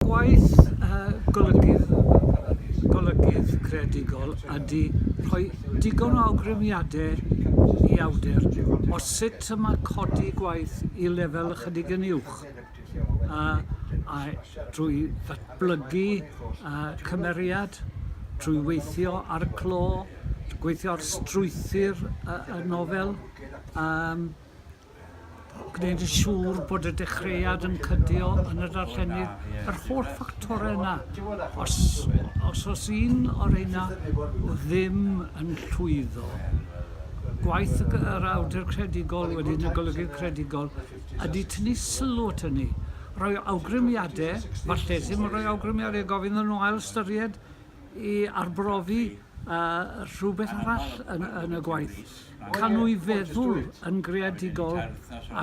Gwaith golygydd creadigol ydy rhoi digon o awgrymiadau i awdur o sut y mae codi gwaith i lefel ychydig yn uwch a drwy ddatblygu cymeriad, trwy weithio ar y clo, gweithio ar strwythur y nofel. gwneud yn siŵr bod y dechreuad yn cydio yn y darllenydd, yr holl ffactorau yna. Os os oes un o reina ddim yn llwyddo, gwaith y yr awdur credigol wedyn y golygydd credigol ydy tynnu sylw at hynny, rhoi awgrymiade, falle ddim yn rhoi awgrymiade, gofyn iddyn nhw ail-ystyried i arbrofi rhywbeth arall yn y gwaith, canwy feddwl yn greadigol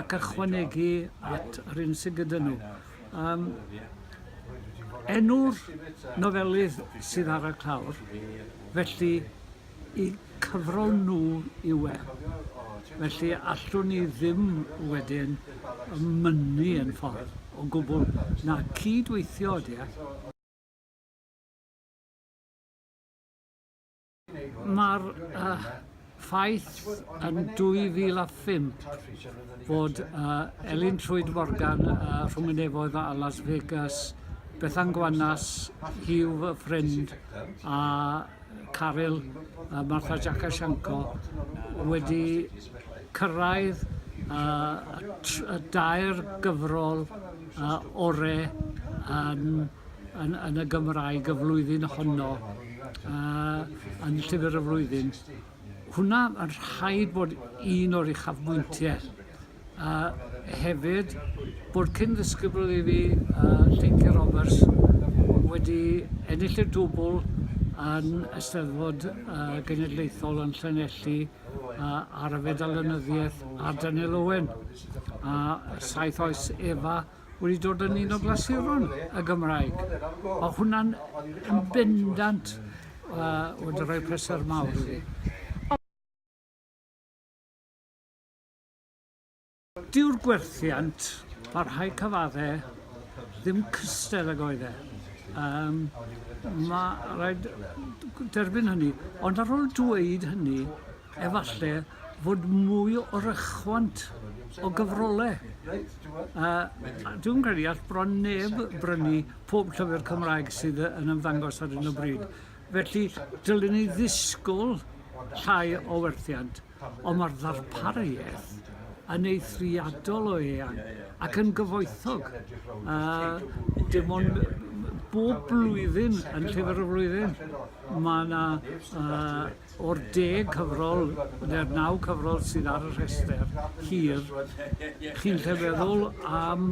ac ychwanegu at yr un sydd gyda nhw. Um, enw'r nofelydd sydd ar y clawr, felly i cyfrol nhw yw e. Felly allwn ni ddim wedyn mynnu yn ffordd o gwbl na cydweithio ydy e. Mae'r uh, ffaith yn 2005 fod uh, Elin Trwyd Morgan uh, rhwng y nefoedd a Las Vegas, Bethan Gwanas, Hugh Friend a Caryl uh, Martha Jakashenko wedi cyrraedd uh, y dair gyfrol uh, orau yn yn, yn y Gymraeg y flwyddyn honno uh, yn llyfr y flwyddyn. Hwna yn rhaid bod un o'r uchafbwyntiau. A hefyd bod cyn ddisgybl i fi uh, Lleinci Roberts wedi ennill y dwbl yn Eisteddfod uh, Genedlaethol yn Llanelli uh, ar y fedal ynyddiaeth ar Daniel Owen a saith oes Efa wedi dod yn un o glasuron y Gymraeg. Mae hwnna'n yn bendant uh, wedi rhoi pleser mawr i fi. Dyw'r gwerthiant, mae rhai cyfaddau ddim cystel ag oedd e. Um, mae rhaid derbyn hynny. Ond ar ôl dweud hynny, efallai fod mwy o rychwant o gyfrolau. A dwi'n credu all bron neb brynu pob llyfr Cymraeg sydd yn ymddangos ar hyn o bryd. Felly, dylwn ni ddisgwyl llai o werthiant, ond mae'r ddarpariaeth yn eithriadol o eang ac yn gyfoethog. A dim ond bob blwyddyn yn llyfr y flwyddyn, mae yna uh, O'r deg cyfrol, neu'r naw cyfrol sydd ar y rhestr hir, chi'n gallu meddwl am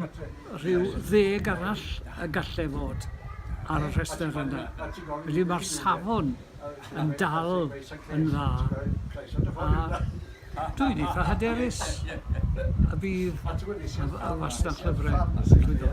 rhyw ddeg arall y gallai fod ar y rhestr yna. Felly mae'r safon yn dal yn dda, a dwi'n eitha hyderus y bydd y fasnach llyfrau yn llwyddo.